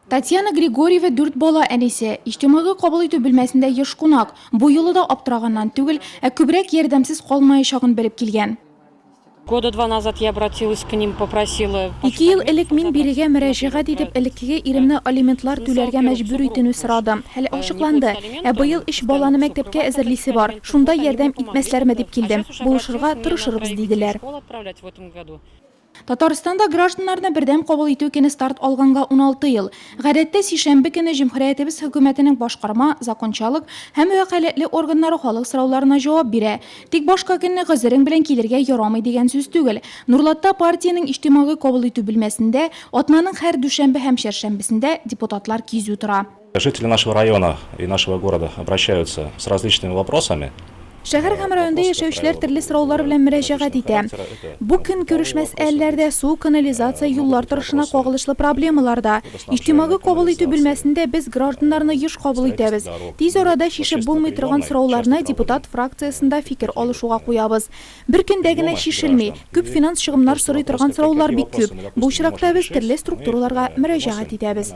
Татьяна Григорьева дүрт бала әнисе, иҗтимагый кабул итү бүлмәсендә еш кунак. Бу юлы да аптыраганнан түгел, ә күбрәк ярдәмсез калмаячагын белеп килгән. Года два назад я обратилась к ним, попросила. Ике ел элек мин бирегә мөрәҗәгать итеп, элеккеге иремне алиментлар түләргә мәҗбүр итенү сорадым. Хәл ачыкланды. Ә быел өч баланы мәктәпкә әзерлисе бар. Шунда ярдәм итмәсләрме дип килдем. Булышырга тырышырбыз, диделәр. Татарстанда гражданнарны бердәм кабул итү көне старт алганга уналты ел. Гадәттә, сишәмбе көне җөмһүриятебез хөкүмәтенең башкарма, закончалык, һәм вәкаләтле органнары халык сорауларына җавап бирә. Тик башка көнне гозерең белән килергә ярамый дигән сүз түгел. Нурлатта партиянең иҗтимагый кабул итү бүлмәсендә атнаның һәр дүшәмбе һәм чәршәмбесендә депутатлар кизү тора. Жители нашего района и нашего города обращаются с различными вопросами. Шәһәр һәм районда яшәүчеләр төрле сораулар белән мөрәҗәгать итә. Бу көнкүреш мәсьәләләре дә, су, канализация, юллар торышына кагылышлы проблемалар да. Иҗтимагый кабул итү бүлмәсендә без гражданнарны еш кабул итәбез. Тиз арада чишеп булмый торган сорауларны депутат фракциясендә фикер алышуга куябыз. Бер көндә генә чишелми. Күп финанс чыгымнар сорый торган сораулар бик күп. Бу очракта без төрле структураларга мөрәҗәгать итәбез.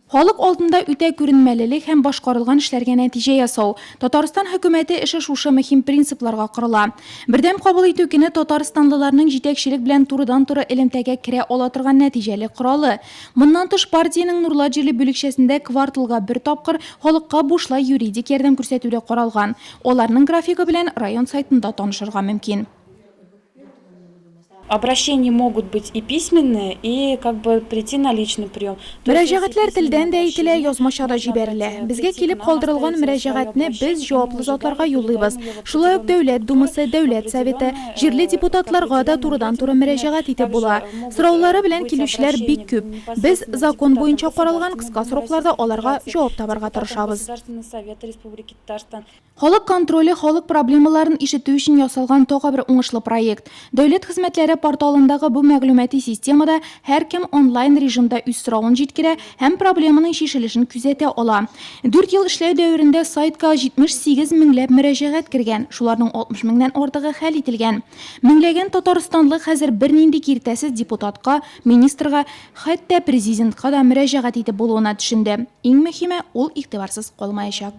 Халык алдында үтә күренмәлелек һәм башкарылган эшләргә нәтиҗә ясау. Татарстан хөкүмәте эше шушы мөһим принципларга корыла. Бердәм кабул итү көне татарстанлыларның җитәкчелек белән турыдан-туры элемтәгә керә ала торган нәтиҗәле коралы. Моннан тыш, партиянең Нурлат җирле бүлекчәсендә кварталга бер тапкыр халыкка бушлай юридик ярдәм күрсәтү дә каралган. Аларның графигы белән район сайтында танышырга мөмкин. Обращение могут быть и письменные, и как бы прийти на личный прием. Мөрәҗәгатьләр телдән дә әйтелә, язмача да җибәрелә. Безгә килеп калдырылган мөрәҗәгатьне без җаваплы затларга юллыйбыз. Шулай ук Дәүләт Думасы, Дәүләт Советы, җирле депутатларга да турыдан-туры мөрәҗәгать итеп була. Сораулары белән килүчеләр бик күп. Без закон буенча каралган кыска срокларда аларга җавап табарга тырышабыз. Халык контроле халык проблемаларын ишетү өчен ясалган тагы бер уңышлы проект. Дәүләт хезмәтләре порталындагы бу мәгълүмати системада һәркем онлайн режимда үз соравын җиткерә һәм проблеманың чишелешен күзәтә ала. Дүрт ел эшләү дәверендә сайтка 78 меңләп мөрәҗәгать кергән, шуларның 60 меңнән артыгы хәл ителгән. Меңләгән татарстанлы хәзер бернинди киртәсез депутатка, министрга, хәтта Президентка да мөрәҗәгать итеп булуына төшенде. Иң мөһиме, ул игътибарсыз калмаячак.